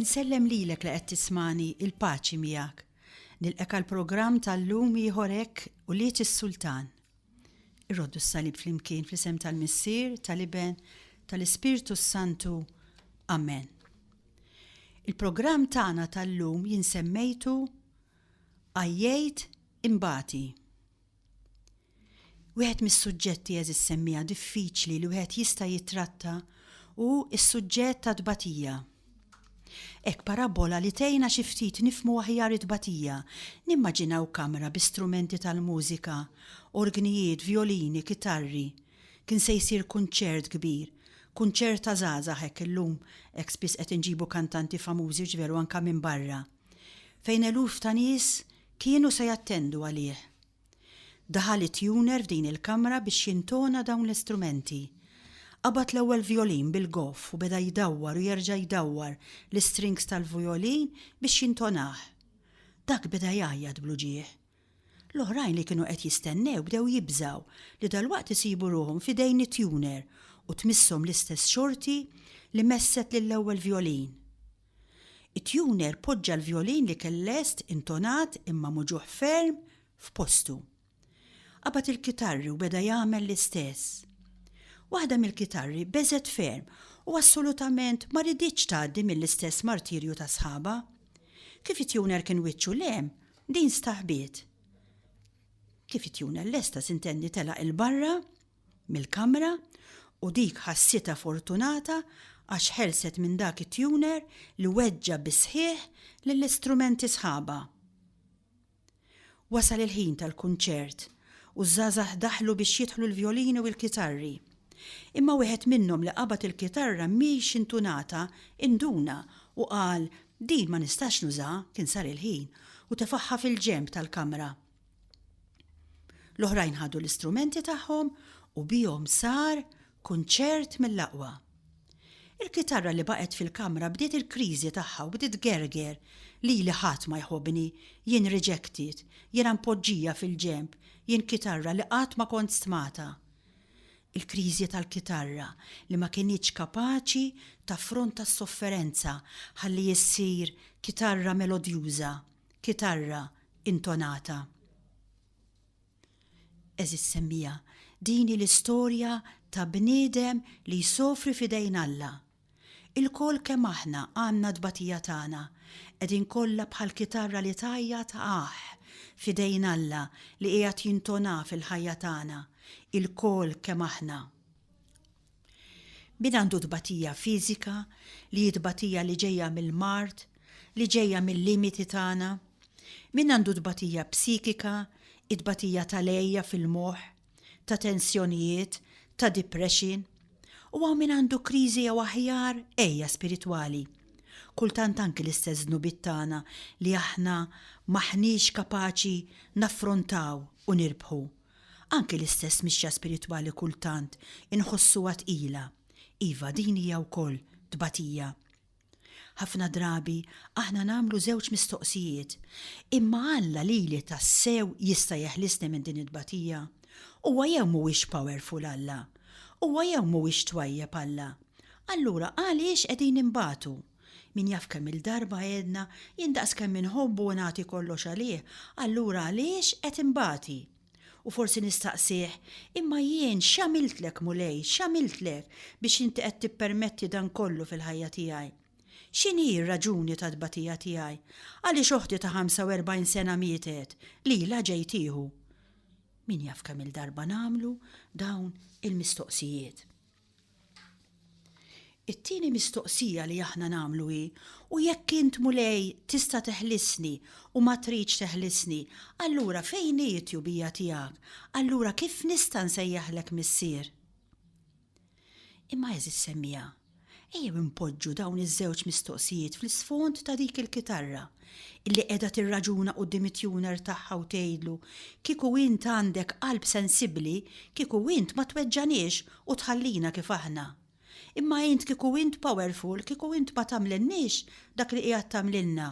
Insellem lilek li qed tismani il-paċi miegħek. Nilqek għal programm tal-lum ieħor hekk u liet is-Sultan. Irroddu s-salib flimkien fl-isem tal-Missier, tal-Iben, tal-Ispirtu s-Santu. Amen. Il-programm tagħna tal-lum jinsemmejtu għajjejt imbati. Wieħed mis-suġġetti għeżież semmiegħa diffiċli li wieħed jista' jittratta hu s-suġġett tat-tbatija. Hekk parabbola li tgħinna xi ftit nifhmu aħjar it-tbatija, nimmaġinaw kamra bi strumenti tal-mużika, orgnijiet, vjolini, kitarri. Kien se jsir kunċert kbir. Kunċert ta' żgħażagħ hekk illum, hekk spiss qed inġibu kantanti famużi u ġveru anke minn barra. fejn eluf ta' nies kienu se jattendu għalih. Daħal it-tuner f'din il-kamra biex jintona dawn l-istrumenti. Qabad l-ewwel vjolin bil-goff u beda jdawwar u jerġa' jdawwar l-istrings tal-vjolin biex jintonah. Dak beda jgħajjat bl-uġigħ. L-oħrajn li kienu qed jistennew bdew jibżgħu li dalwaqt isibu ruħhom f'idejn it-tuner u tmisshom l-istess xorti li messet lill-ewwel vjolin. It-tuner poġġa l-vjolin li kell lest intonat imma muġugħ ferm f'postu. Qabad il-kitarri u beda jagħmel l-istess. Waħda mill-kitarri beżgħet ferm u assolutament ma riditx tgħaddi mill-istess martirju ta' sħabha. Kif it-tuner kien wiċċu 'l hemm, din staħbiet. Kif it-tuner lesta s'intenni telaq 'il barra mill-kamra u dik ħassitha fortunata għax ħelset minn dak it-tuner li weġġa' bis-sħiħ lill-istrumenti sħabha. Wasal il-ħin tal-kunċert u ż-żgħażagħ daħlu biex jidħlu l-vjolini u l-kitarri. Imma wieħed minnhom li qabad il-kitarra mhiex intunata induna u qal, Din ma nistax nużaha, kien sar il-ħin, u tefagħha fil-ġenb tal-kamra. L-oħrajn ħadu l-istrumenti tagħhom u bihom sar kunċert mill-aqwa. Il-kitarra li baqgħet fil-kamra bdiet il-kriżi tagħha u bdiet gerger lili ħadd ma jħobbni, jien rejected, jiena mpoġġija fil-ġenb, jien kitarra li qatt ma kont stmata. Il-kriżi tal-kitarra li ma kinitx kapaċi taffronta s-sofferenza ħalli ssir kitarra melodjuża. kitarra intonata. Eżiż semmija, din hi l-istorja ta' bniedem li jsofri f'idejn Alla. Ilkoll kemm aħna għandna t-tbatija tagħna, qegħdin kollha bħal kitarra li tgħajjat aah f'idejn Alla li qiegħed jintonaa fil-ħajja tagħna, ilkoll kemm aħna. Min għandu tbatija fiżika, li hi tbatija li ġejja mill-mard, li ġejja mil-limiti tagħna? Min għandu tbatija psikika, it-tbatija tal-għeja fil-moħħ, ta' tensjonijiet, ta' depression? U hawn min għandu kriżi jew aħjar għeja spiritwali? Kultant anki l-istess dnubiet tagħna li aħna m'aħniex kapaċi naffrontaw u nirbħu. Anki l-istess mixja spiritwali kultant inħossuha tqila, iva din hija wkoll tbatija. Ħafna drabi aħna nagħmlu żewġ mistoqsijiet, Imma Alla lili tassew jista' jeħlisni minn din it-tbatija? Huwa jew mhuwiex powerful Alla? Huwa jew mhuwiex twajjeb Alla? Allura għaliex qegħdin inbatu? Min jaf kemm-il darba għedna, jien daqskemm inħobbu u nagħti kollox għalih, allura għaliex qed inbati? U forsi nistaqsih, Imma jien x'għamiltlek, Mulej, x'għamiltlek biex inti qed tippermetti dan kollu fil-ħajja tiegħi? X'inhi r-raġuni tat-tbatija tiegħi? Għaliex oħti ta' 45 sena mietet, lilha ġej tieħu? Min jaf kemm-il darba nagħmlu dawn il-mistoqsijiet? It-tieni mistoqsija li aħna nagħmlu hi, U jekk int, Mulej, tista' teħlisni, u ma tridx teħlisni, allura fejn hi t-tjubija tiegħek? Allura kif nista' nsejjaħlek Missier? Imma għeżież semmiegħa, ejjew inpoġġu dawn iż-żewġ mistoqsijiet fl-isfond ta' dik il-kitarra. illi qiegħda tirraġuna quddiem it-tuner tagħha u tgħidlu, Kieku int għandek qalb sensibbli, kieku int ma tweġġaniex u tħallina kif aħna. Imma int kieku int powerful, kieku int ma tagħmlilniex dak li qiegħed tagħmlilna.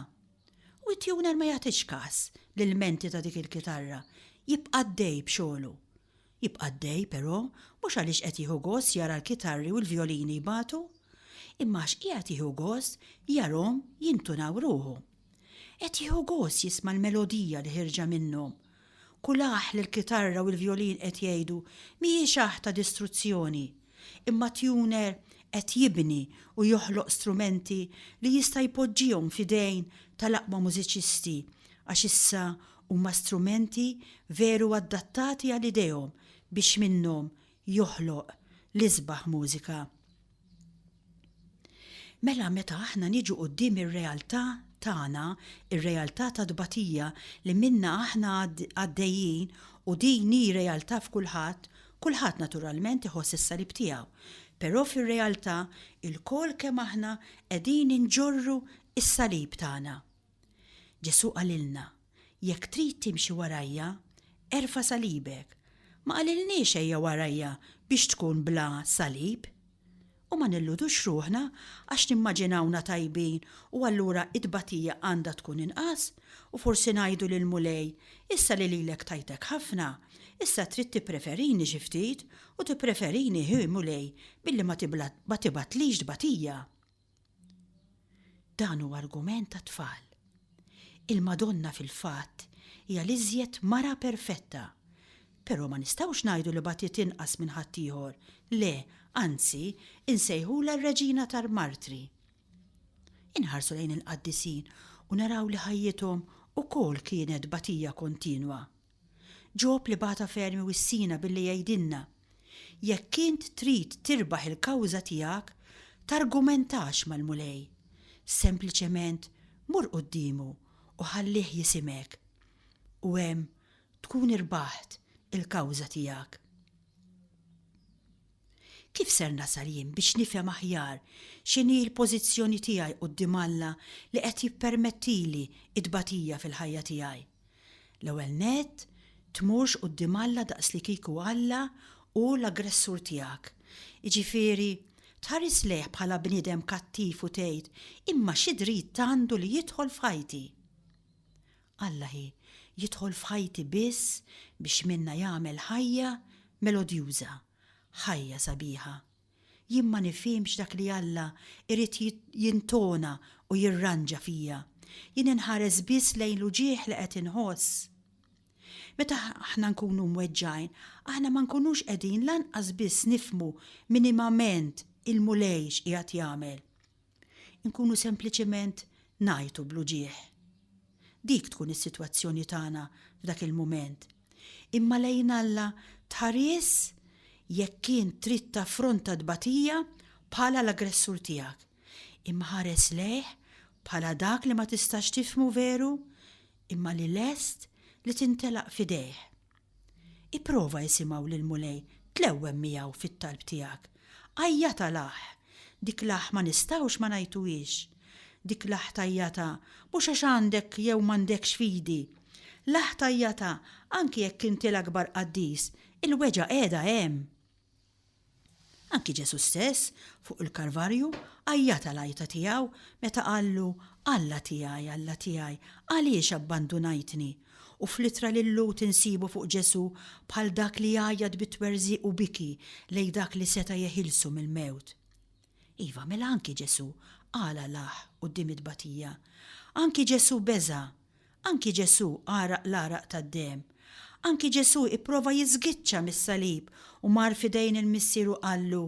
U t-tuner ma jagħtix każ l-ilmenti ta' dik il-kitarra, jibqa' għaddej b'xogħlu. Jibqa' għaddej, però, mhux għaliex qed jieħu gost jara l-kitarri u l-vjolini jbatu, imma għax qiegħed jieħu gost jarhom jintunaw ruħu. Qed jieħu gost jisma' l-melodija li ħierġa minnhom. Kull aħ li l-kitarra u l-vjolin qed jgħidu mhijiex aħ ta' distruzzjoni, imma tuner qed jibni u joħloq strumenti li jista' jpoġġihom f'idejn tal-aqwa mużiċisti għax issa Huma strumenti veru adattati għal idejhom biex minnhom joħloq l-isbaħ mużika. Mela meta aħna niġu quddiem ir-realtà tagħna, ir-realtà tat-tbatija li minnha aħna għaddejjin u din hi realtà f'kulħadd, kulħadd naturalment iħoss is-salib tiegħu. Però fir-realtà ilkoll kemm aħna qegħdin inġorru s-salib tagħna. Ġesù qalilna, Jekk trid timxi warajja, erfa' salibek. Ma qalilniex ejja warajja biex tkun bla salib. U ma nilludux ruħna għax nimmaġinawna tajbin u allura t-tbatija għandha tkun inqas u forsi ngħidu lill-Mulej, issa li lilek tajtek ħafna, issa trid tippreferini xi ftit u tippreferini hi Mulej billi ma tibgħatlix tbatija. Dan hu argument għat-tfal. Il-Madonna fil-fatt hija l-iżjed mara perfetta, però ma nistgħux ngħidu li bagħtiet inqas minn ħaddieħor, le, anzi, insejħulha r-Reġina tal-Martri. Inħarsu lejn il-qaddisin u naraw li ħajjithom ukoll kienet bagħtija kontinwa. Ġob li bagħatha ferm iwissina billi jgħidilna, Jekk int trid tirbaħ il-kawża tiegħek, targumentax mal-Mulej. Sempliċement mur quddiemu u ħallih jisimek. U hemm tkun irbaħt il-kawża tiegħek. Kif ser nasal jien biex nifhem aħjar x'inhi l-pożizzjoni tiegħi quddiem Alla li qed jippermettili t-tbatija fil-ħajja tiegħi? L-ewwel nett, tmurx quddiem Alla daqslikieku Alla hu l-aggressur tiegħek. Jiġifieri, tħares lejh bħala bniedem kattiv u tgħid, 'Imma xi dritt għandu li jidħol f'ħajti? Alla ħi jidħol f'ħajti biss biex minnha jagħmel ħajja melodjuża, ħajja sabiħa. Jien ma nifhimx dak li Alla jrid jintona u jirranġa fija, jien inħares biss lejn l-uġigħ li qed inħoss. Meta aħna nkunu mweġġgħin, aħna ma nkunux qegħdin lanqas biss nifhmu minimament il-Mulej x'qiegħed jagħmel. Inkunu sempliċement ngħajtu bl-uġigħ. Dik tkun is-sitwazzjoni tagħna f'dak il-mument. Imma lejn Alla tħaries jekk kien trid taffronta tbatija bħala l-aggressur tiegħek. Imma ħares lejh bħala dak li ma tistax tifhmu veru, imma li lest li tintelaq f'idejh. Ipprova isimgħu lill-Mulej, tlewwem miegħu fit-talb tiegħek. Għajjatha l-aħ. Dik l-aħ ma nistgħux ma ngħajtuhiex. Dik l-aħ tgħajjatha mhux għax għandek jew m'għandekx fidi. L-aħ tgħajjatha anki jekk inti l-akbar qaddis, il-weġgħa qiegħda hemm. Anki Ġesù stess, fuq il-Karvarju, għajjata l-għajta tiegħu meta qallu, Alla tiegħi, Alla tiegħi, għaliex abbandunajtni? U fl-Ittra lil Lut insibu fuq Ġesù bħal dak li jgħajjat bi twerżiq u biki lejn dak li seta' jeħilsu mill-mewt. Iva, mela anki Ġesù qal alah quddiem it-tbatija. Anki Ġesù beża'. Anki Ġesù għaraq l-għaraq tad-demm. Anki Ġesù ipprova jiżgiċċa mis-salib u mar f'idejn il-Missier u qallu,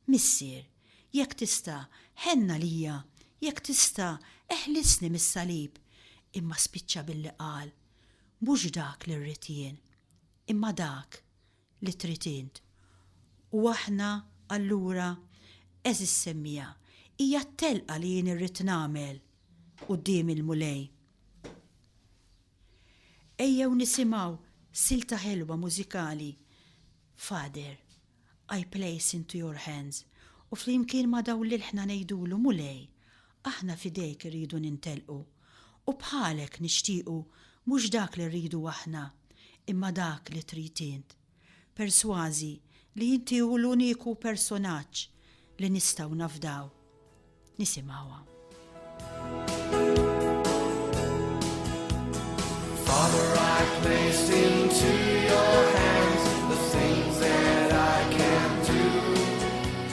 Missier, jekk tista', ħenn għalija, jekk tista', eħlisni mis-salib. Imma spiċċa billi qal, Mhux dak li rrid jien, imma dak li trid int. U aħna, allura, għeżież semmiegħa, hija t-telqa li jien irrid nagħmel quddiem il-Mulej. Ejjew nisimgħu silta ħelwa mużikali, Father, I place into your hands, u flimkien ma' dawn l-ilħna ngħidulu, Mulej, Aħna f'idejk irridu nintelqu, u bħalek nixtiequ mhux dak li rridu aħna, imma dak li trid int, persważi li inti hu l-uniku personaġġ li nistgħu nafdaw. Nisimgħuha. Father, I placed into your hands the things that I can do.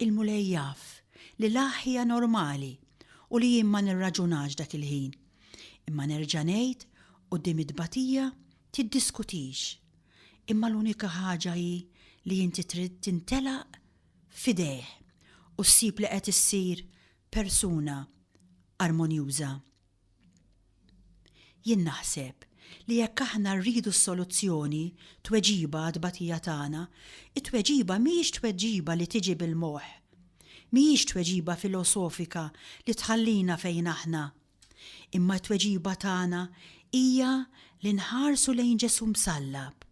Il-Mulej jaf li l aħħ hija normali u li jien ma nirraġunax dak il-ħin. Imma nerġa' ngħid, quddiem it-tbatija, tiddiskutix. Imma l-unika ħaġa hi li inti trid tintelaq f'idejh u ssib li qed issir persuna armonjuża. Jien naħseb li jekk aħna rridu s-soluzzjoni, tweġiba għat-tbatija tagħna, it-tweġiba mhijiex tweġiba li tiġi bil-moħħ. Mhijiex tweġiba filosofika li tħallina fejn aħna. Imma t-tweġiba tagħna hija li nħarsu lejn Ġesù msallab.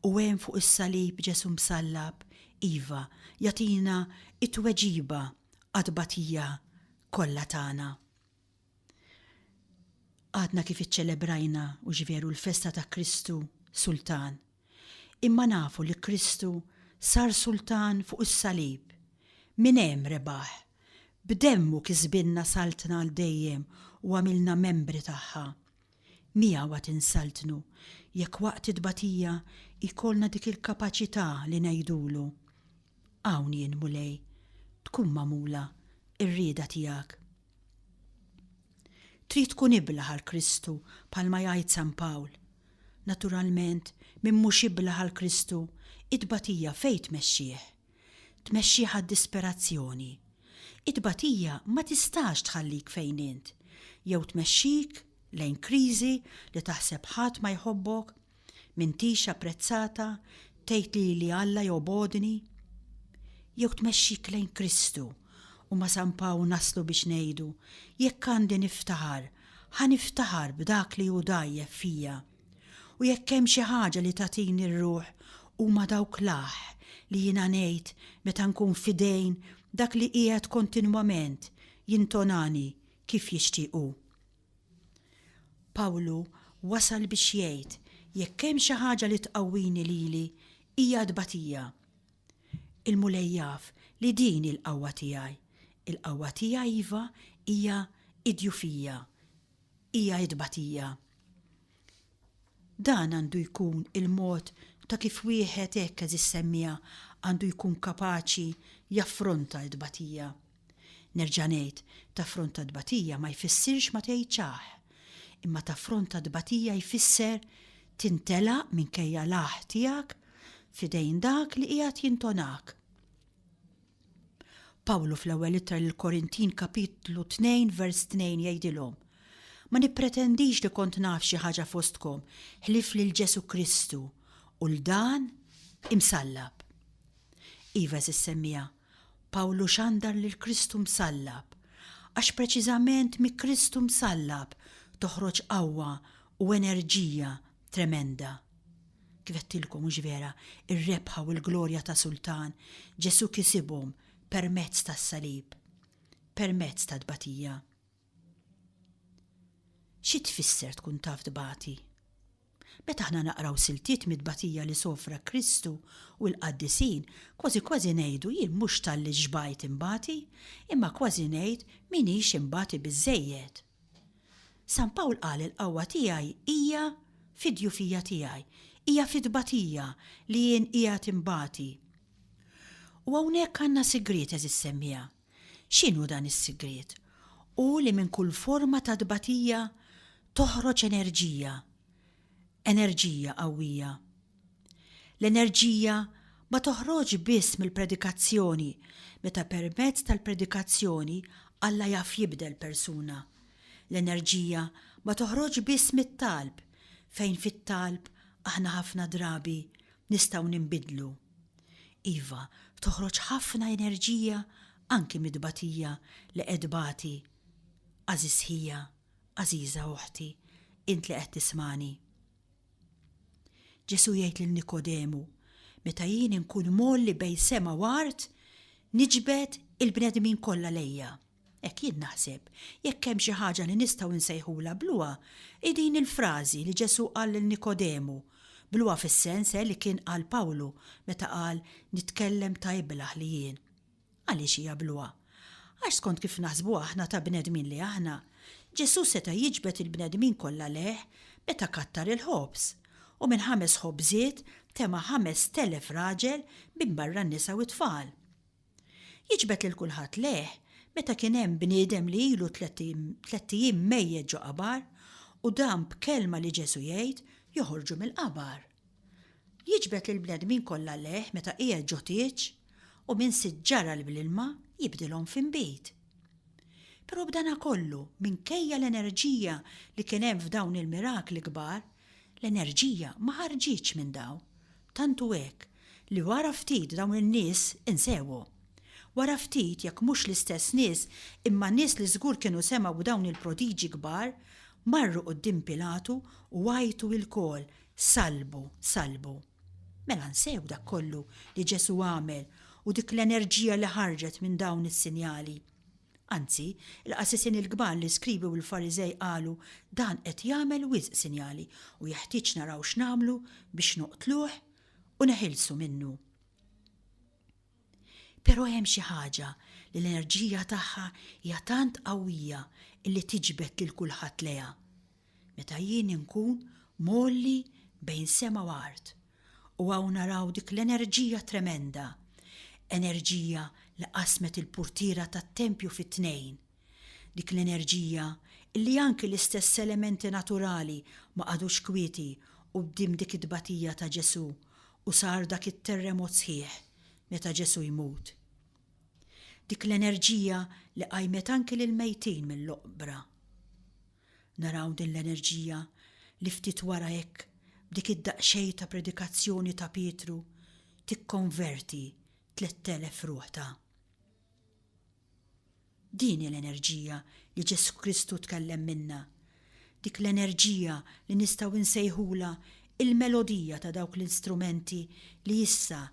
U hemm fuq is-salib Ġesù msallab, iva, jagħtina t-tweġiba għat-tbatija kollha tagħna. Għadna kif iċċelebrajna u x'veru l-festa ta' Kristu Sultan, imma nafu li Kristu sar Sultan fuq is-Salib, minn hemm rebaħ, b'demmu kisbilna Saltna għal dejjem u għamilna membri tagħha. Miegħu għad insaltnu jekk waqt it-tbatija jkollna dik il-kapaċità li ngħidulu, Hawn jien, Mulej, tkun magħmula r-rieda tiegħek. Trid tkun iblah għal Kristu bħalma jgħid San Pawl. Naturalment, min mhux iblah għal Kristu, it-tbatija fejn tmexxih? tmexxih għad-disperazzjoni. It-tbatija ma tistax tħallik fejn int, jew tmexxik lejn kriżi li taħseb ħadd ma jħobbok, m'intix apprezzata, tgħid lili Alla jobgħodni. Jew tmexxik lejn Kristu, u ma' San Pawl naslu biex ngħidu, jekk għandi niftaħar, ħa niftaħar b'dak li hu dgħajjef fija. U jekk hemm xi ħaġa li tagħtini r-ruħ huma dawk l-aħ li jiena ngħid meta nkun f'idejn dak li qiegħed kontinwament jintonani kif jixtieq hu. Pawlu wasal biex jgħid jekk hemm xi ħaġa li tqawwini lili hija t-tbatija. Il-Mulej jaf li din hi l-qawwa tiegħi. Il-qawwa tiegħi iva hija d-djufija, hija t-tbatija. Dan għandu jkun il-mod ta' kif wieħed hekk għeżież semmiegħa għandu jkun kapaċi jaffronta t-tbatija. Nerġa' ngħid, taffronta t-tbatija ma jfissirx ma tgħidx aħ. Imma taffronta t-tbatija jfisser tintelaq minkejja l-aħ tiegħek f'idejn dak li qiegħed jintonak. Pawlu fl-ewwel ittra lill-Korintin kapitlu 2 vers 2 jgħidilhom, Ma nippretendix li kont naf xi ħaġa fostkom ħlief lil Ġesu Kristu u l dan imsallab. Iva eżis semmija, Pawlu xandar lil Kristu msallab, għax preċiżament mi Kristu msallab toħroġ qawwa u enerġija tremenda. Kif għedtilkom mhux vera, ir-rebħa u l-glorja ta' Sultan, Ġesù kisibhom permezz tas-salib, permezz tat-tbatija. Xi tfisser tkun taf tbati? Meta aħna naqraw siltiet mit-tbatija li sofra Kristu u l-qaddisin, kważi kważi ngħidu jien mhux talli xbajt inbati, imma kważi ngħid m'iniex inbati biżżejjed. San Pawl qal il-qawwa tiegħi hija fid-djufija tiegħi, hija fit-tbatija li jien qiegħed inbati. U hawnhekk għandna sigriet, għeżież semmiegħa. X'inhu dan is-sigriet? Hu li minn kull forma ta' tbatija toħroġ enerġija, enerġija qawwija. L-enerġija ma toħroġx biss mill-predikazzjoni meta permezz tal-predikazzjoni Alla jaf jibdel persuna. L-enerġija ma toħroġx biss mit-talb, fejn fit-talb aħna ħafna drabi nistgħu ninbidlu. Iva, toħroġ ħafna enerġija anki mit-tbatija li qed tbati għażiż ħija. Għażiża oħti, int li qed tismagħni. Ġesù jgħid lil Nikodemu, Meta jien inkun mgħolli bejn sema u art, niġbed il-bnedmin kollha lejja. Hekk jien naħseb, jekk hemm xi ħaġa li nistgħu nsejħulha bluha, hi din il-frażi li Ġesù qal lil Nikodemu, bluha fis-sens eh li kien qal Pawlu meta qal nitkellem ta' iblah li jien. Għaliex hija bluha? Għax skont kif naħsbu aħna ta' bnedmin li aħna, Ġesù seta' jiġbed il-bnedmin kollha lejh meta kattar il-ħobż, u minn ħames ħobżiet tema' ħamest elef raġel minbarra n-nisa u t-tfal. Jiġbed lil kulħadd lejh meta kien hemm bniedem li ilu tlett ijiem mejjet ġo qabar u dan b'kelma li Ġesù jgħid joħorġu mill-qabar. Jiġbed lill-bnedmin kollha lejh meta qiegħed ġo tieġ u minn sitt ġaral bl-ilma jibdilhom f'inbid. Però b'danakollu, minkejja l-enerġija li kien hemm f'dawn il-mirakli kbar, l-enerġija ma ħarġitx minn dawn. Tant hu hekk li wara ftit dawn in-nies insewu. Wara ftit, jekk mhux l-istess nies imma nies li żgur kienu semgħu b'dawn il-prodiġi kbar, marru quddiem Pilatu u għajtu ilkoll, Salbu, salbu. Mela nsew dak kollu li Ġesu għamel u dik l-enerġija li ħarġet minn dawn is-sinjali. Anzi, il-qasisin il-kbar li skribi u l-Fariżej qalu dan qed jagħmel wisq sinjali u jeħtieġ naraw x'nagħmlu biex noqtluh u neħilsu minnu. Però hemm xi ħaġa li l-enerġija tagħha hija tant qawwija illi tiġbed lil kulħadd lejha. Meta jien inkun mgħolli bejn sema u art, u hawn naraw dik l-enerġija tremenda, enerġija li qasmet il-purtiera tat-tempju fi tnejn, Dik l-enerġija illi anki l-istess elementi naturali ma qagħdux kwieti quddiem dik it-tbatija ta' Ġesù u sar dak it-terremot sħiħ meta Ġesù jmut. Dik l-enerġija li qajmet anki lill-mejtin mill-oqbra. Naraw din l-enerġija li ftit wara hekk b'dik id-daqsxejn ta' predikazzjoni ta' Pietru tikkonverti tlett elef ruħ ta'. Din hi l-enerġija li Ġesù Kristu tkellem minnha, dik l-enerġija li nistgħu nsejħulha l-melodija ta' dawk l-istrumenti li issa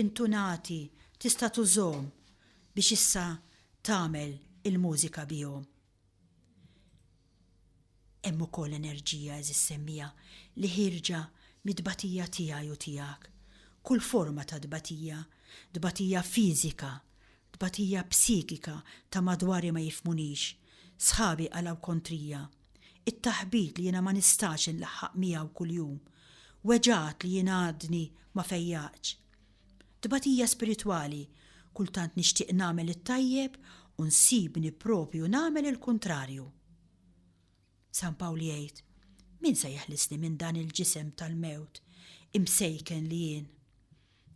intu ngħati tista' tużhom biex issa tagħmel il-mużika bihom. Hemm ukoll enerġija, għeżież semmiegħa, li ħierġa mit-tbatija tiegħi u tiegħek. Kull forma ta' tbatija, tbatija fiżika, tbatija psikika ta' madwari ma jifhmunix, sħabi qalgħu kontrija, it-taħbit li jiena ma nistax inlaħħaq miegħu kuljum, weġgħat li jien għadni ma fejjaqtx. Tbatija spiritwali, kultant nixtieq nagħmel it-tajjeb u nsibni proprju nagħmel il-kuntrarju. San Pawl jgħid, Min se jeħlisni minn dan il-ġisem tal-mewt, imsejken li jien?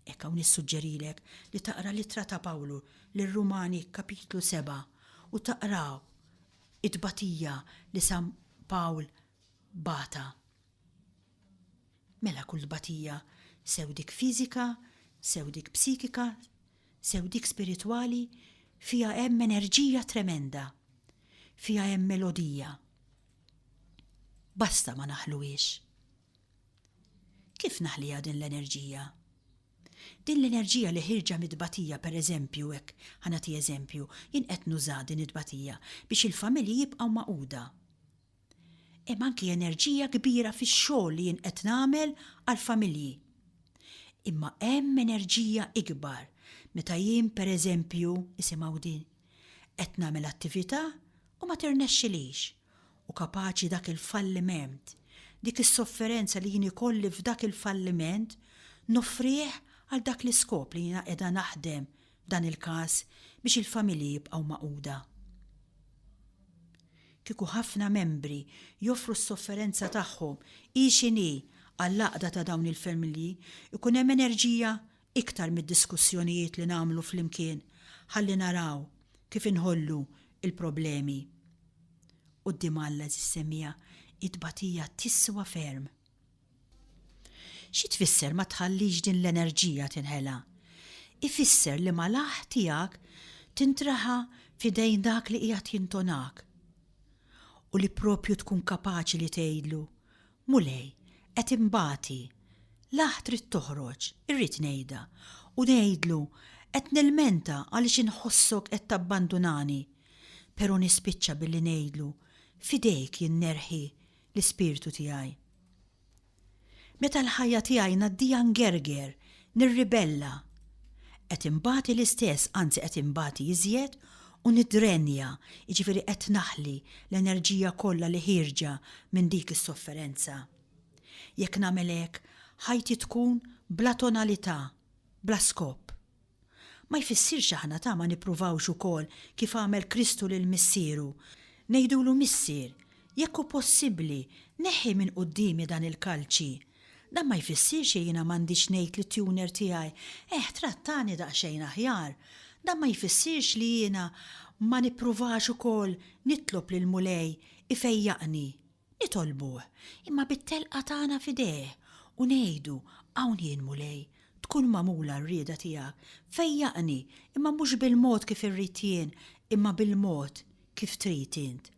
Hekk hawn nissuġġerilek li taqra l-ittra ta' Pawlu lir-Rumani kapitlu 7 u taqraw it-tbatija li San Pawl bata Mela kull tbatija, sew dik fiżika, sew dik psikika, sew dik spiritwali, fiha hemm enerġija tremenda. Fiha hemm melodija. Basta ma naħluhiex. Kif naħliha din l-enerġija? Din l-enerġija li ħirġa mit-tbatija pereżempju hekk ħa nagħti eżempju, jien qed nuża din it-tbatija biex il-familji jibqgħu magħquda. Hemm anki enerġija kbira fix-xogħol li jien qed nagħmel għall-familji. Imma hemm enerġija ikbar meta jien pereżempju, isimgħu din, qed nagħmel attività u ma tirnexxilix, u kapaċi dak il-falliment, dik is-sofferenza li jien ikolli f'dak il-falliment noffrih għal dak l-iskop li jiena qiegħda naħdem f'dan il-każ biex il-familji jibqgħu magħquda. Kieku ħafna membri joffru s-sofferenza tagħhom hi x'inhi għall-għaqda ta' dawn il-familji, ikun hemm enerġija iktar mid-diskussjonijiet li nagħmlu flimkien ħalli naraw kif inħollu l-problemi. Quddiem Alla, eżis semmiegħa, it-tbatija tiswa ferm. Xi tfisser ma tħallix din l-enerġija tinħela? Ifisser li malaħħ tiegħek tintraħa f'idejn dak li qiegħed jintonak u li proprju tkun kapaċi li tgħidlu, Mulej, qed inbati, laħħ trid toħroġ, irrid ngħidha, u ngħidlu, Qed nilmenta għaliex inħossok qed tabbandunani, pero nispiċċa billi ngħidlu, F'idejk jien nerħi L-ispirtu tiegħi. Meta l-ħajja tiegħi ngħaddiha ngerger, nirribella, qed inbati l-istess, anzi qed inbati iżjed u niddrenja, jiġifieri qed naħli l-enerġija kollha li ħierġa minn dik is-sofferenza. Jekk nagħmel hekk, ħajti tkun bla tonalità, bla skop. Ma jfissirx aħna ta' ma nippruvawx ukoll kif għamel Kristu lil Missieru, ngħidulu Missier, jekk hu possibbli, neħħi minn quddiemi dan il-kalċi. Dan ma jfissirx li jiena m'għandix ngħid lit-tuner tiegħi, eħ trattani daqsxejn aħjar. Dan ma jfissirx li jiena ma nippruvax ukoll nitlob lill-Mulej ifejjaqni. Nitolbuh, imma bit-telqa tagħna f'idejh, u ngħidu, Hawn jien, Mulej, tkun magħmula r-rieda tiegħek, fejjaqni, imma mhux bil-mod kif irrid jien, imma bil-mod kif trid int.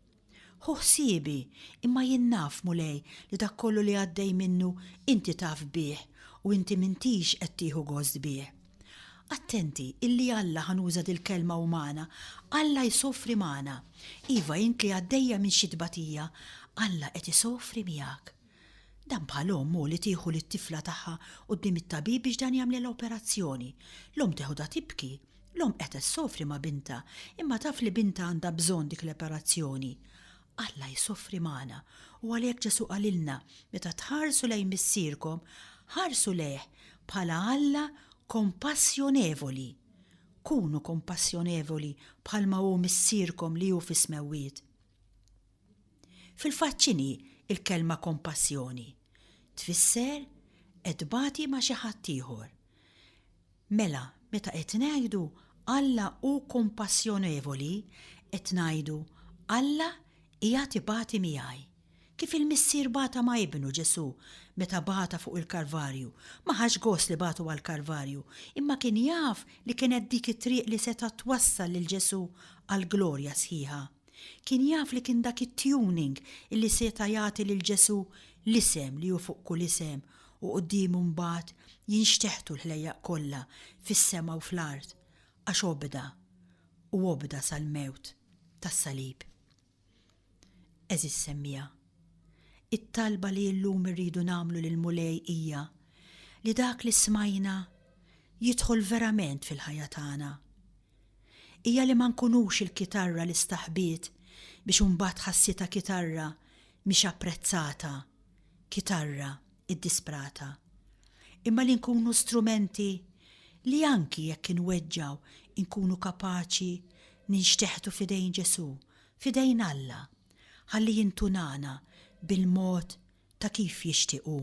Ħu ħsiebi, imma jien naf, Mulej, li dak kollu li għaddej minnu, inti taf bih, u inti m'intix qed tieħu gost bih. Attenti, illi Alla, ħa nuża dil-kelma umana, Alla jsofri magħna. Iva, int li għaddejja minn xi tbatija, Alla qed isofri miegħek. Dan bħal omm, hu, li tieħu lit-tifla tagħha quddiem it-tabib biex dan jagħmlilha operazzjoni. L-omm teħodha tibki. L-omm qed issofri ma' bintha, imma taf li bintha għandha bżonn dik l-operazzjoni. Alla jsofri magħna, u għalhekk Ġesù qalilna, Meta tħarsu lejn Missierkom, ħarsu lejh bħala Alla kompassjonevoli. Kunu kompassjonevoli bħalma hu Missierkom li hu fis-Smewwiet. Fil-fatt x'inhi l-kelma kompassjoni? Tfisser qed tbati ma' xi ħaddieħor. Mela, meta qed ngħidu Alla hu kumpassjonevoli, qed ngħidu Alla qiegħed ibati miegħi. Kif il-Missier bata ma' Ibnu, Ġesù, meta bata fuq il-Kalvarju. Ma ħax gost li bagħtu għall-Kalvarju, imma kien jaf li kienet dik it-triq li setgħet twassal lil Ġesù għall-glorja sħiħa. Kien jaf li kien dak it-tuning li seta' jagħti lil Ġesù l-isem li hu fuq kull isem u quddiemu mbagħad jinxteħtu l-ħlejjaq kollha fis-sema u fl-art, għax obda, u obda sal-mewt tas-salib. Għeżież semmiegħa, it-talba li llum irridu nagħmlu lill-Mulej hija li dak li smajna jidħol verament fil-ħajja tagħna, hija li ma nkunux il-kitarra li staħbiet biex imbagħad ħassitha kitarra mhix apprezzata, kitarra iddisprata, imma li nkunu strumenti li anki jekk inweġġgħu nkunu kapaċi ninxteħtu f'idejn Ġesù, f'idejn Alla, ħalli jintunana bil-mod ta' kif jixtieq hu.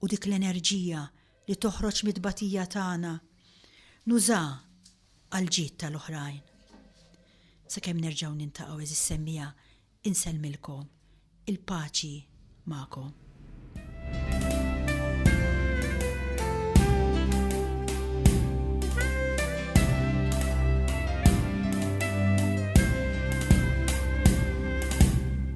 U dik l-enerġija li toħroġ mit-tbatija tagħna nuża għall-ġid tal-oħrajn. Sakemm nerġgħu nintaqgħu għeżież semmiegħa insellmilkom il-paċi magħkom.